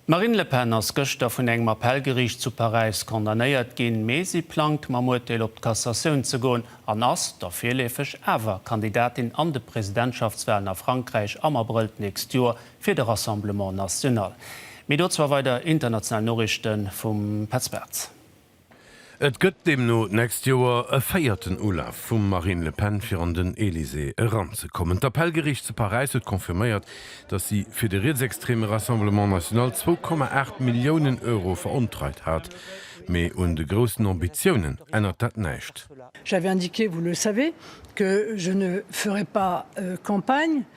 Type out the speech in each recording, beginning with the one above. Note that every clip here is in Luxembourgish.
D'Marine Le Pen ass gëschter vun engem Appellgeriicht zu Paräis condamnéiert ginn, mee si plangt mam Urteel op d'Cassatioun ze goen an ass da virleefeg awer Kandidatin an de Presidentschaftswalen a Frankräich am Abrëll d'nächst Joer fir de Rassemblement National. Mee dozou a weider international Noriichte vum Petz Bartz. Et gëtt deemno d'nächst Joer e véierten Ulaf vum Marine Le Pen fir an den Elysée eranzekommen. D'Appellgeriicht zu Paräis huet confirméiert, datt si fir de rietsextreme Rassemblement National zwou Komma aacht Milliounen Euro verontreit hat. Mee un de groussen Ambitiounen ännert dat näischt.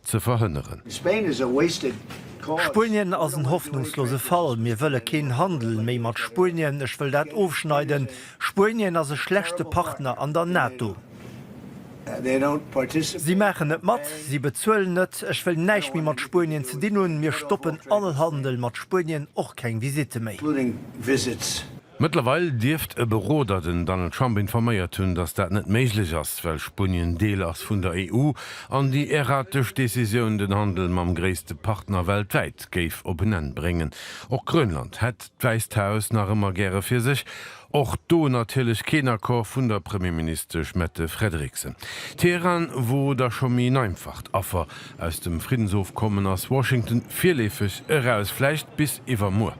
ze verhënneren. Spain is a wasted cause. Spuenien ass en hoffnungslose Fall. Mir wëlle keen Handel méi mat Spuenien. Ech wëll dat ofschneiden. Spuenien ass e schlechte Partner an der NATO. Si maachen net mat, si bezuelen net. Ech wëll näischt méi mat Spuenien ze dinn hunn. Mir stoppen all Handel mat Spuenien, och keng Visitte méi. Mëttlerweil dierft e Beroder den Donald Trump informéiert hunn, datt dat net méiglech ass, well Spunien Deel ass vun der EU an déi erratesch Decisioun den Handel mam gréisste Partner weltwäit géif op en Enn bréngen. Och Grönland hätt d'Wäisst Haus nach ëmmer gäre fir sech. Och do natierlech keen Accord vun der Premierministesch Mette Frederiksen. Teheran wor da scho méi en einfacht Affer. Aus dem Friddensofkommen ass Washington virleefeg eraus, vläicht bis iwwermuer.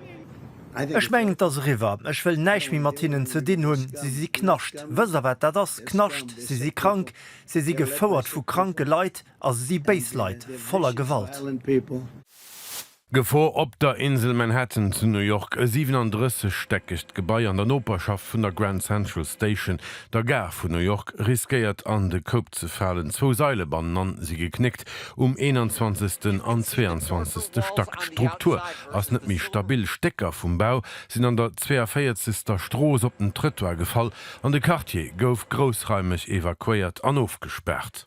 Ech mengen et ass eriwwer, ech wëll näischt méi mat hinnen ze dinn hunn, si si Knascht. Wësst der wat dat ass, Knascht? Si si krank, si si gefouert vu kranke Leit a si si béis Leit, voller Gewalt. Gefor op der Insel Manhattan zu New York, E 37 stäckegt Gebai an der Noperschaft vun der Grand Central Station, der Gare vun New York, riskéiert an de Koup ze falen. Zwou Saile bannenan si geknéckt, um 21. an 22. Stack. D'Struktur ass net méi stabil. Stécker vum Bau sinn an der 42. Strooss op den Trëttoir gefall an de Quartier gouf groussraimeg evakuéiert an ofgespaart.